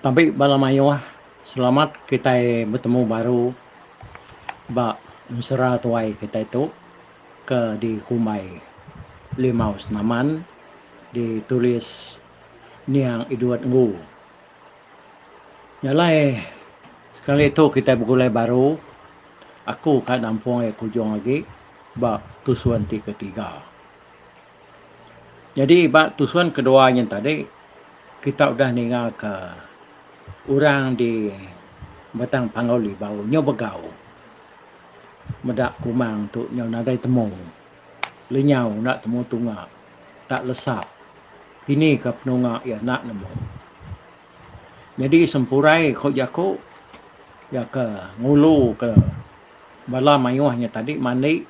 Tabi bala mayuh selamat kitai betemu baru ba ensera tuai kitai tu ke dikumbai Limau Senaman ditulis Niang Edward Ngu. Nya alai sekali tu kitai begulai baru aku ka nampung iya ke ujung agi ba tusun ti ketiga. Jadi ba tusun kedua nyin tadi kita udah ninga ka orang di batang panggau libau nyau begau meda kumang tu nyau nadai temu lenyau enda temu tunga tak lesa kini ka penunga iya enda nemu jadi sempurai ko jaku iya ka ngulu ka bala mayuh nya tadi mandi.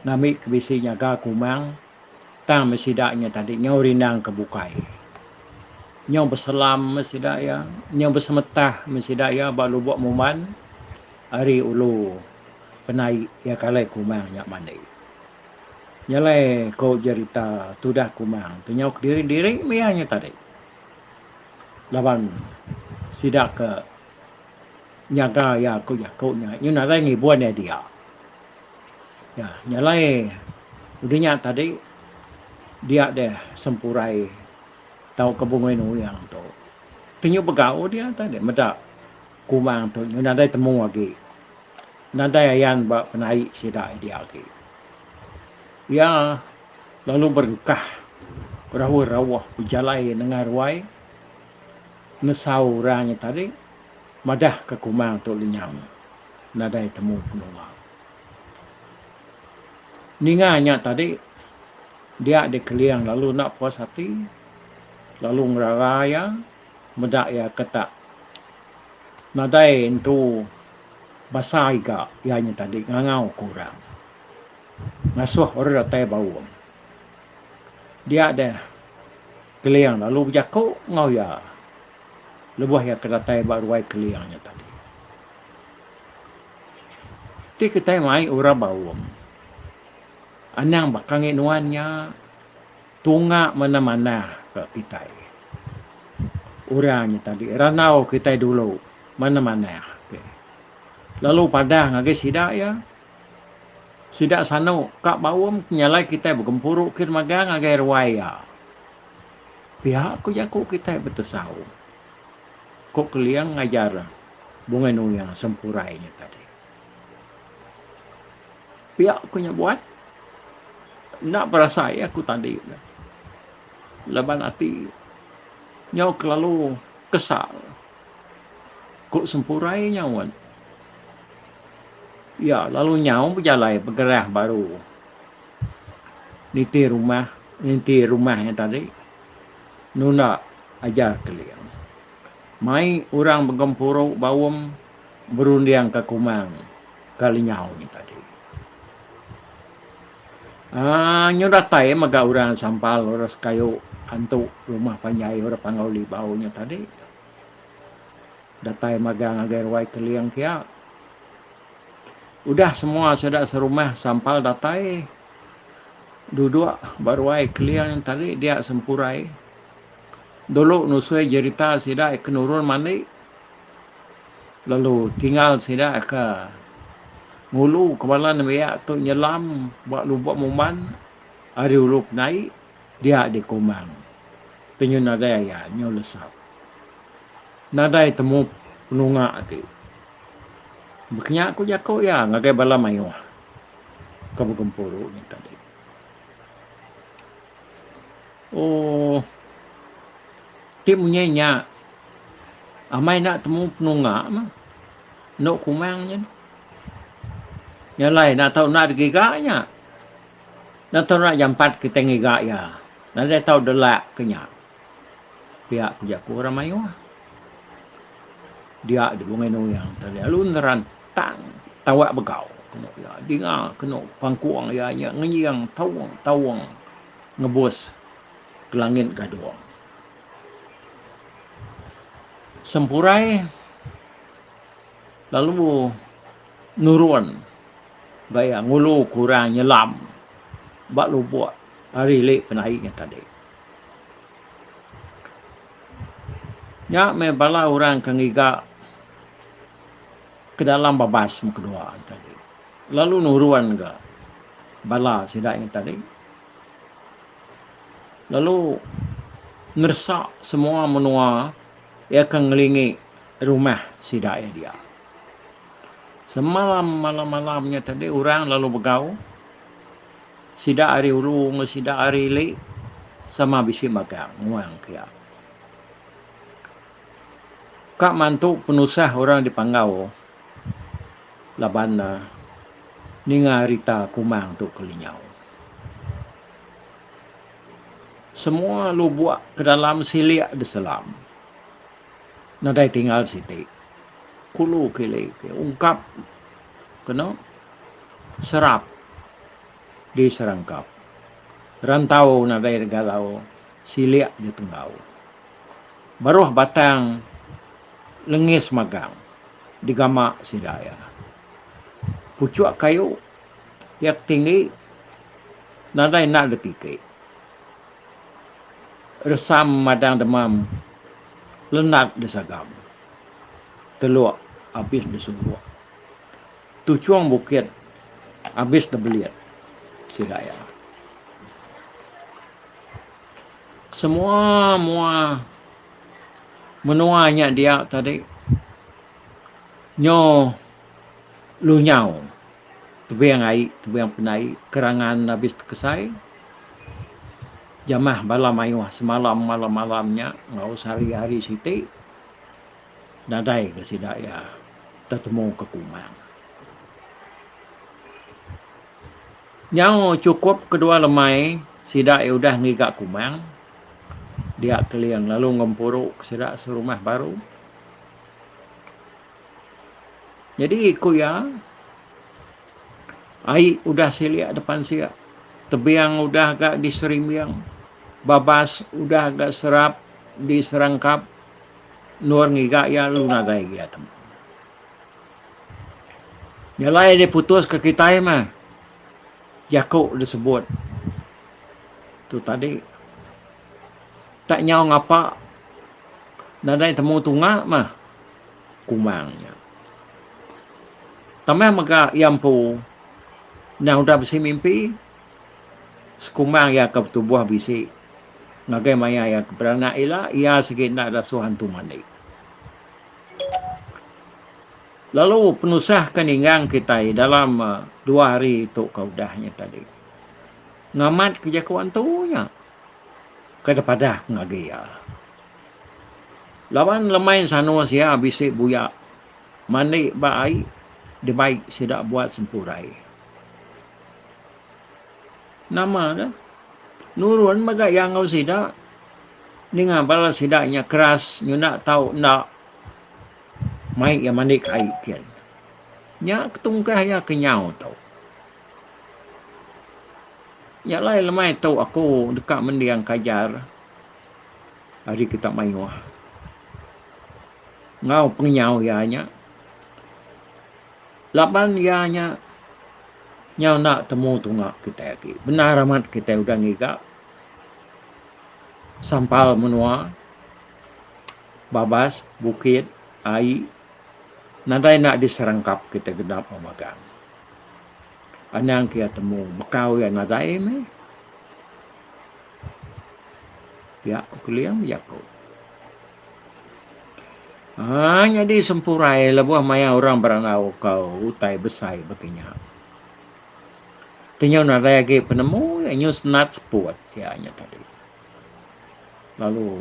Ngambi ke bisi nyaga ke umang tang meh sida nya tadi nyau rindang ke bukai. Nyau beselam meh sida iya, nyau besemetah meh sida iya ba lubok muman ari ulu penai iya ke alai ke umang nya mandi. Nya alai ko jerita tudah ke umang tu nyau kediri-diri meh iya nya tadi laban sida ke Nyaga iya ku jaku nya nyun alai ngibun iya dia. Iya nya alai udah nya tadi dia deh sempurai tauka bungui nuyang tu. Tu nyu begau dia tadi meda kumang tu nyu nadai temu agi. Nadai ayan ba penai sida dia agi. Iya lalu berengkah berahu rauh bejalai nengah ruai. Ngesau orang nya tadi madah ke kumang tu lenyau nadai temu penua. Ninga nya tadi dia di Keling lalu enda puas ati lalu ngerara iya meda iya ke tak nadai entu basa iga iya nya tadi ngangau ke orang ngasuh orang datai baung. Dia deh. Keling lalu bejaku enggau iya lebuh iya ke datai ba ruai Keling nya tadi. Ti kitai mai Ura Baum. Anang baka ngi nuan nya tunga manah-manah ka kitai. Orang nya tadi randau kitai dulu manah-manah. Lalu padah ngagai sida iya. Sida sanu ka baum ke nyalai kitai begempuru kin magang ngagai ruai iya. Pia ku jaku kitai betesau, ku Keling ngajar Bungai Nuya Sempurai nya tadi. Pia ku nya buat enda berasa iya ku tadi laban ati nyau kelalu kesal. Ku Sempurai nyaut. Iya lalu nyau bejalai begerah baru niti rumah niti rumah iya tadi nunda ajar Keling. Mai orang begempuru baum berundingka kumang ka lenyau iya tadi. Aaa nyu datai mega orang sampal orang sekayu antu rumah panjai orang panggau libau nyu tadi datai magang ngagai ruai keling pia udah semua sida serumah sampal datai duduk ba ruai keling tadi dia sempurai dulu nusui jerita sida ke nurun mandi. Lalu tinggal sida ke ngulu kepala nembiak tu nyelam ba lubang uman ari ulu ke naik dia di Komang. Tenyun nadai aya nyau lesap. Nadai temu penunga ti. Bekenya ku jaku iya ngagai bala mayuh ke begempuru nya tadi. Ooh. Ti munyi nya amai enda temu penunga mah. Endo kumang nya. Nya alai enda tau enda da giga nya. Enda tau enda jampat kitai ngiga iya. Nadai tau delak ke nya. Pia ku jaku orang mayuh. Dia di Bungai Nuyang tu lalu nerantang tawa begau. Dinga kenu pangkung iya nya ngeying taung-taung. ngebus Kelangit Gadong. Sempurai lalu nurun gaya ngulu kurang nyelam ba lubuk ari li penai nya tadi. Nya meh bala orang ke ngiga ke dalam babas meh kedua tadi. Lalu nurun ga bala sida nya tadi lalu ngeresak semua menua iya ke ngelingi rumah sida iya dia. Semalam malam-malam nya tadi orang lalu begau sida ari ulu enggau sida ari ili sama bisi magang nguang ke iya. Ka mantu penusah orang dipanggau. laban ninga rita kumang tu kelinyau. Semua lubok ke dalam silik diselam nadai tinggal siti. Kulu kili ke ungkap keno serap diserangkap. Rantau nadai digalau Silik di tenggau baruh batang lengis magang digama sida iya. Puchuk kayu iya ke tinggi nadai enda ditiki. Resam madang demam lenat disagam teluk abis disungkuk. Tuchung bukit abis dibelit sida iya. Semua mua menua nya dia tadi nyo lunyau tebing ai tebing pendai kerangan abis tekesai jamah bala maioh semalam malam-malam nya enggau sehari-hari siti. Nadai ga sida iya tetemu ke kuman. Nyau chukup kedua lemai sida iya udah ngiga kuman dia Keling lalu ngempuru ke sida serumah baru. Nyadi ku iya ai udah silik depan sik, tebing udah ga diserimbing, babas udah ga serap diserangkap. Nur ngiga iya lalu nadai giya tembu. Nyelai diputus ke kitai mah jaku disebut tu tadi tak nyau ngapa nadai temu tunga mah kumang nya. Tambah mega iya empu endang udah bisi mimpi Sekumbang iya ke betubuh bisi ngagai maya iya ke beranak ila, iya sigi enda dasuh antu mandi. Lalu penusah ke ninggang kitai dalam dua hari tu ke udah nya tadi. Ngamat ke jaku antu nya. Kada padah ke ngagai iya. Laban lemai sanus iya bisi buyak mandi ba ai dibai sida buat sempurai. Nama ke? Nurun mega iya enggau sida. Ninga bala sida nya keras nyunak tau enda mai iya mandi ke ai kin. Nya ke tungkah iya ke nyau tu. Nya alai lemai tu aku deka mending ke ajar ari kita mayuh. Enggau pengenyau iya nya. Laban iya nya, nyau enda temu tunga kitai agi. Bendar amat kitai udah ngiga sampal menua, babas, bukit, ai nadai enda diserangkap kitai genap ba magang. Anang ke iya temu, bekau iya nadai meh. Pia ku Kuling, jaku. Haa nyadi sempurai lebuh maya orang berandau ko utai besai baka nya. Kenyau nadai agi penemu iya nyau senat seput iya nya tadi. Lalu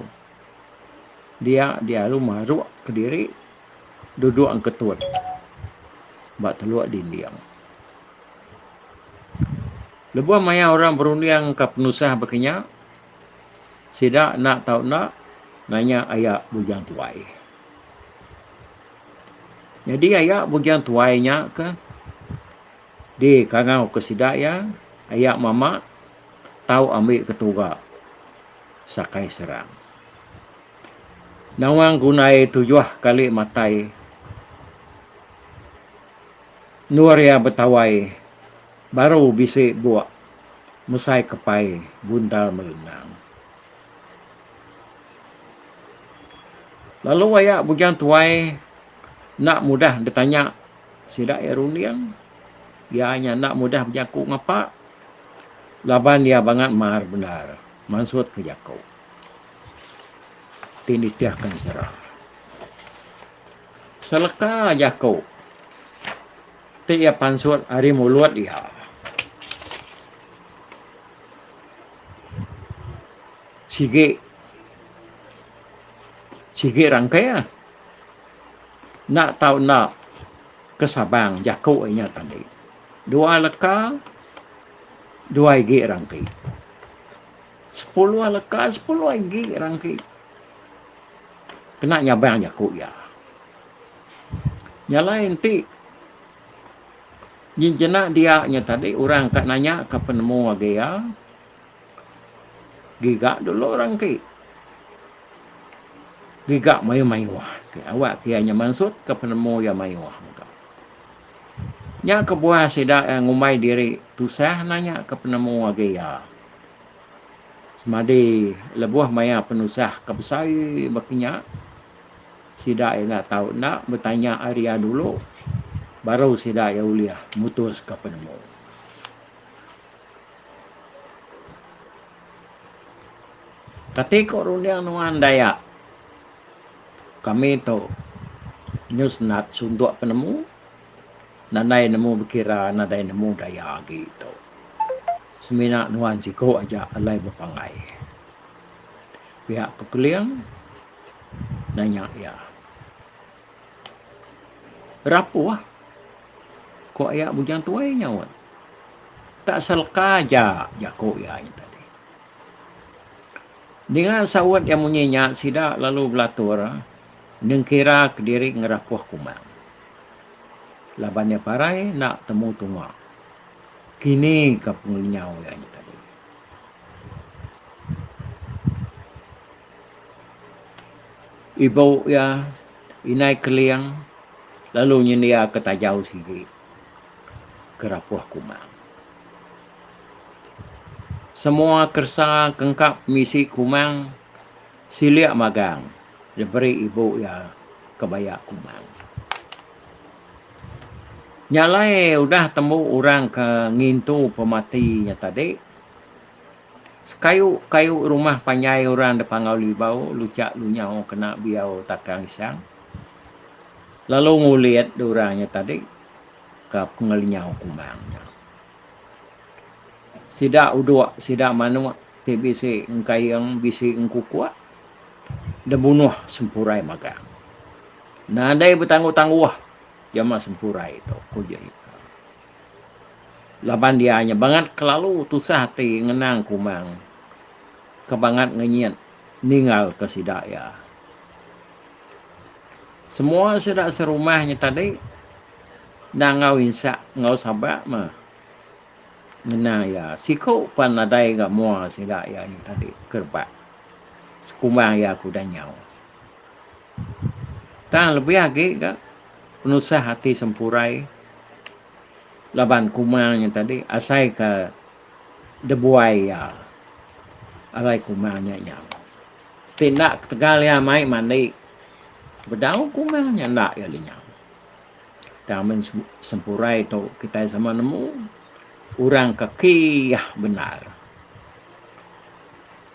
dia dialu maruk kediri duduk ngketut ba teluk dinding. Lebuh maya orang berunding ka penusah baka nya. Sida enda tau enda nanya aya Bujang Tuai. Nyadi aya Bujang Tuai nya ke di kangau ke sida iya aya mama tau ambi ketuga sakai serang. Nawang gunai tujuh kali matai endur iya betawai baru bisi buk. mesai kepai bundar merendang. Lalu aya bujang tuai enda mudah ditanya sida iya runding. Iya nya enda mudah bejaku ngapa laban iya bangat mar bendar mansut ke jaku ti nitihka sira. Seleka jaku. Ti iya pansut ari mulut iya. Sigi sigi rangkai ah. Enda tau enda ke Sabang jaku inya tadi. Dua leka dua igi rangki. Sepuluh leka sepuluh igi rangki. Kena nyabang jaku iya. Nya alai enti nyin jenak dia nya tadi orang ka nanya ka penemu agi iya giga dulu orang ti giga mayuh mayuh awak iya nya mansut ka penemu iya mayuh mega. Nya kebuah sida ngumbai diri tusah nanya ka penemu agi iya semadi lebuh maya penusah ka besai ba kinya. Sida enda tau enda betanya ari iya dulu baru sida iya ulih mutuska penemu. Kati ko runding nuan Dayak kami tu nyu senat suntuk penemu nadai nemu bekira nadai nemu daya agi tu. Semina nuan siko aja alai bepanggai. Piak ke Keling. Nanya iya. Rapuh? Ku ayak Bujang Tuai nyaut. Tak selka aja, jaku iya hari tadi. Ninga saut iya munyi nya sida lalu belatur nengkira kediri ngerapuh kumang. Laban iya parai enda temu tunga. Kini ka pengenyau iya hari tadi. Ibu iya, Indai Keling, lalu nyendiaka tajau sigi ke rapuh kumang. Semua keresa ke engka pemisi kumang silik magang diberi ibu iya ke baya kumang. Nya alai udah tembu orang ke ngintu pemati nya tadi. Sekayu kayu rumah panjai orang da Pangau Libau, Luchak Lunyau kena biau takang isang, lalu ngulit da orang nya tadi ka pengelinyau kumbang nya. Sida uduk, sida manuk ti bisi engkaing, bisi engkukuk da bunuh sempurai magang. Nadai betangguh-tangguh jama sempurai tu, ku Jerita. Laban dia nya bangat kelalu tusah ati ngenang Kumang ke bangat ngenyit ninggalka sida iya. Semua sida serumah nya tadi enda enggau insa enggau sabak mah ngena iya. Siku pan nadai ga mua sida iya nya tadi ke rebak sekumang iya ke udah nyau. Tang lebih agi ga penusah ati sempurai laban kuma nya tadi asai ka debuai iya alai kuma nya nyau. Ti enda ketegal iya mai mandi bedau kuma nya enda iya lenyau. Tang amun sempurai tu kitai sama nemu orang ka kiyah bendar.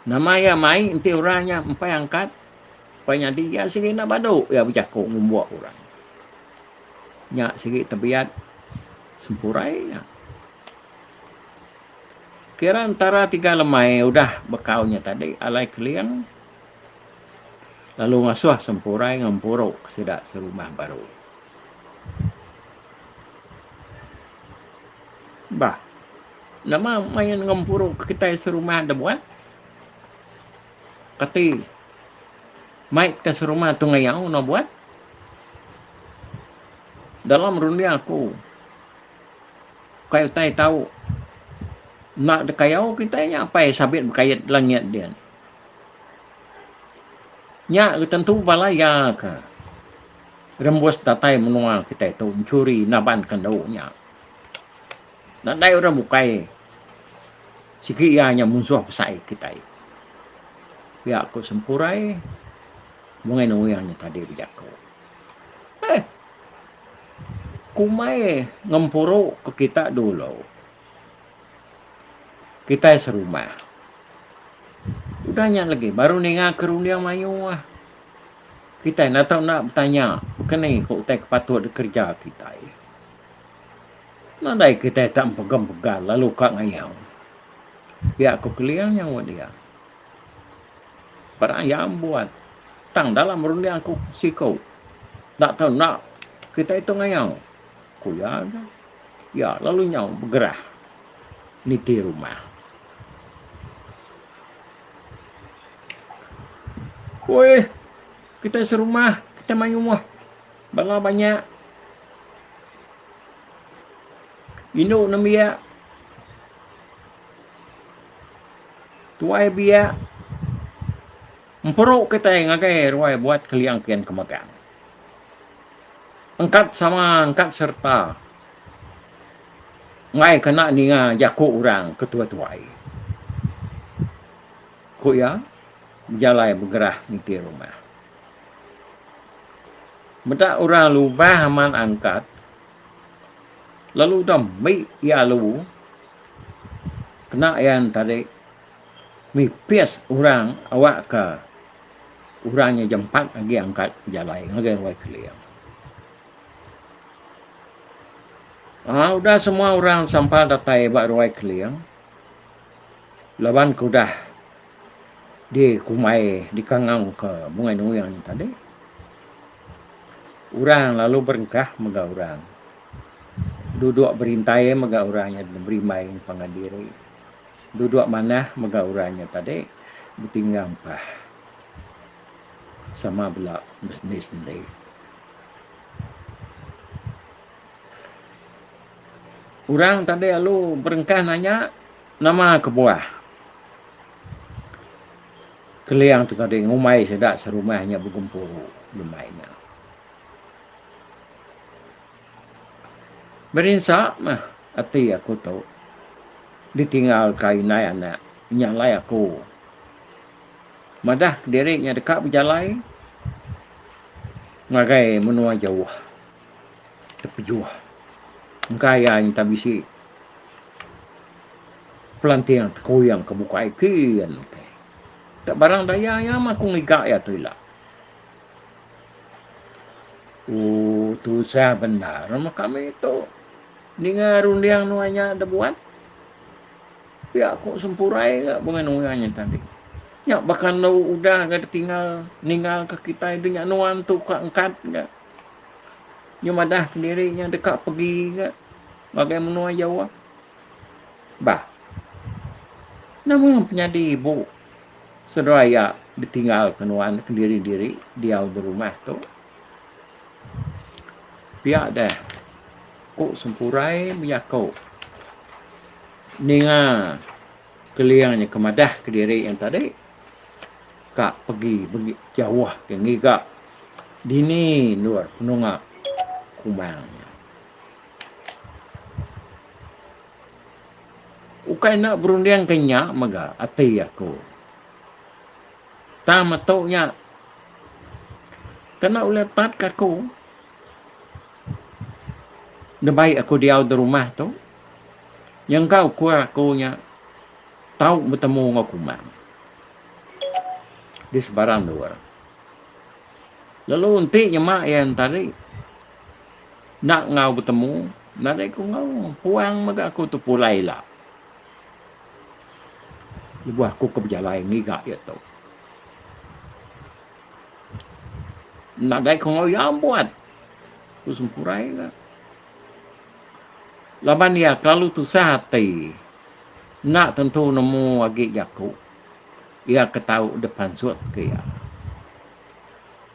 Nama iya mai enti orang nya empai angkat. Pai nyadi iya sigi enda badu iya bejaku ngumbuk orang. Nya sigi tebiat sempurai nya. Kira entara tiga lemai udah bekau nya tadi alai keling lalu ngasuh sempurai ngempuru sida serumah baru. Bah. Nama main ngempuru kitai serumah da buat? Kati mait ka serumah tu ngayau no buat? Dalam runding aku kai utai tau enda dikayau kitai nya apai sabit bekait langit din. Nya ga tentu bala iya ka rembus datai menua kitai tu mencuri naban kendu nya. Nadai orang bukai sigi iya nya munsuh besai kitai. Pia ku Sempurai bungai nuing nya tadi bejaku. Eh. Kumai ngempuru ke kita dulu. Kitai serumah. Udah nya lagi baru ninga ke runding mayuh. Kitai enda tau enda betanya ke ni ke utai ke patut dikereja kitai. Nadai kitai tak empegem pegal lalu ka ngayau. Pia ku Keling nyaup iya. Peda iya membuat tang dalam runding ku siku. Enda tau enda kitai tu ngayau, ku iya. Iya lalu nyaup begerah niti rumah. Uih kitai serumah kitai mayuh. Bala banyak indu nembiak, tuai biak emperu kitai ngagai ruai buat keliang kian ke megang. Engkat sama engkat sereta enggai kena ninga jaku orang ke tuai-tuai, ku iya bejalai begerah niti rumah. Meda orang lubang amat angkat, lalu udah mih iya alu, kena iya entadi mipis orang awakka orang nya jampat agi angkat bejalai ngagai Wai Keling. Aaa udah semua orang sampal datai ba Wai Keling laban ke udah. dikumbai dikangauka bungai nuing nya tadi orang lalu berengkah mega orang duduk berintai mega orang nya berimbai ngagai diri duduk manah mega orang nya tadi betinggal ampah sama bela besendi sendi. Orang tadi lalu berengkah nanya. Nama kebuah Keliang tu tadi ngumbai sida serumah nya begempuru jemai nya. Berinsa mah ati aku tu ditinggalka indai anak nya alai aku madah kediri nya deka bejalai ngagai menua jauh. tepejuh engka iya nyentang bisi pelanting tekuing ke bukai kin ke. Tak barang daya iya mah aku ngiga iya tu ila. Oh, tusah bendar mah kami tu. Ninga runding nuan nya da buat. Pia ku sempurai ga bunga nuan nya tadi. Nya baka enda udah ga ditinggal ninggal ka kitai dunya nuan tu ka engkat ga. Nya madah kediri nya deka pegi ga ngagai menua Jawa. Bah. Nama penyadi ibu saudara iya ditinggal ke nuan kediri diri diau di rumah tu. Pia deh ku sempurai bejaku ninga keling nya ke madah kediri nya tadi. ka pegi megi jauh ke ngiga dini endur penunga kumang nya. Ukai enda berunding ke nya mega ati aku. Tang metu nya kena ulih pat ke aku ndembai aku diau di rumah tu nyengkau kua aku nya tau betemu enggau Kumang di sebarang endur. Lalu enti nyema iya entari enda enggau betemu, nadai ku enggau puang mega aku tu pulai ila. Lebuh aku ke bejalai ngiga iya tu. Nadai ku enggau iya buat, ku Sempurai kata. Laban iya kelalu tusah ati enda tentu nemu agi jaku iya ke tau dipansut ke iya.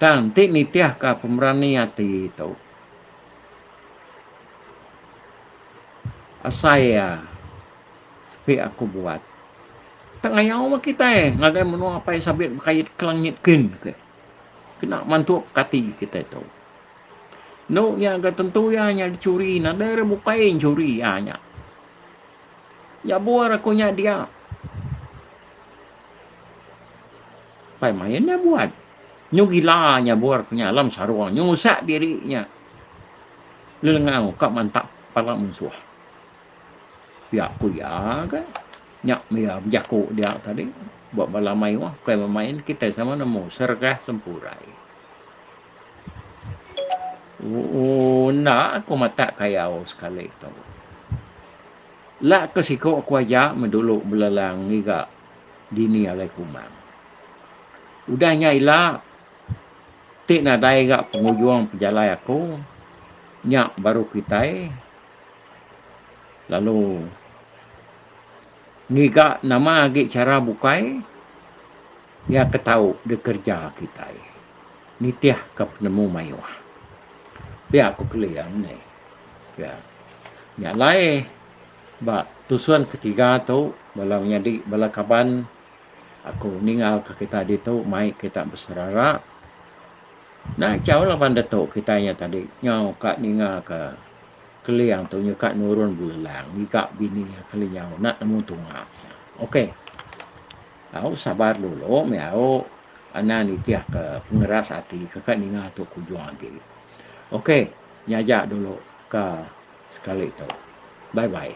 Tang enti nitihka pemberani ati tu asai iya sepi aku buat. Tengayau meh kitai ngagai menua Apai Sabit Bekayit Kelangit kin kena mantu pekati kitai tu. Endo nya ga tentu iya nya dicuri, nadai ra bukai nyuri iya nya. Nyabur aku nya dia. Pai main nya buat. Nyu gila nyabur aku nya alam sarong nyu ngusak diri nya. Lelengau ka mantap pala munsuh. Pia ku iya ga. Nya mia bejaku dia tadi. Ba bala mayuh bukai bemain kitai sama nemu sergah sempurai. Ooh enda aku matak kayau sekali tu. Ela ke siku aku aja meh dulu belelang ngiga dini alai kumang. Udah nya ila ti nadai ga pengujung pejalai aku nya baru kitai lalu ngiga nama agi chara bukai. Iya ke tau dikereja kitai nitihka penemu mayuh. Pia ku Keling nih. Pia. Nya alai ba tusun ketiga tu bala menyadi bala kaban aku ninggalka kitai ditu mai kita beserara. Enda chau laban ditu kitai nya tadi nyau ka ninggalka Keling tu nyuka nurun belelang ngiga bini iya kelinyau enda nemu tunga. Okey. Au sabar dulu meh au enda nitih ke pengeras ati ke ka ninga tu kujung agi. Ok nya aja dulu ka sekali tu. Bye bye.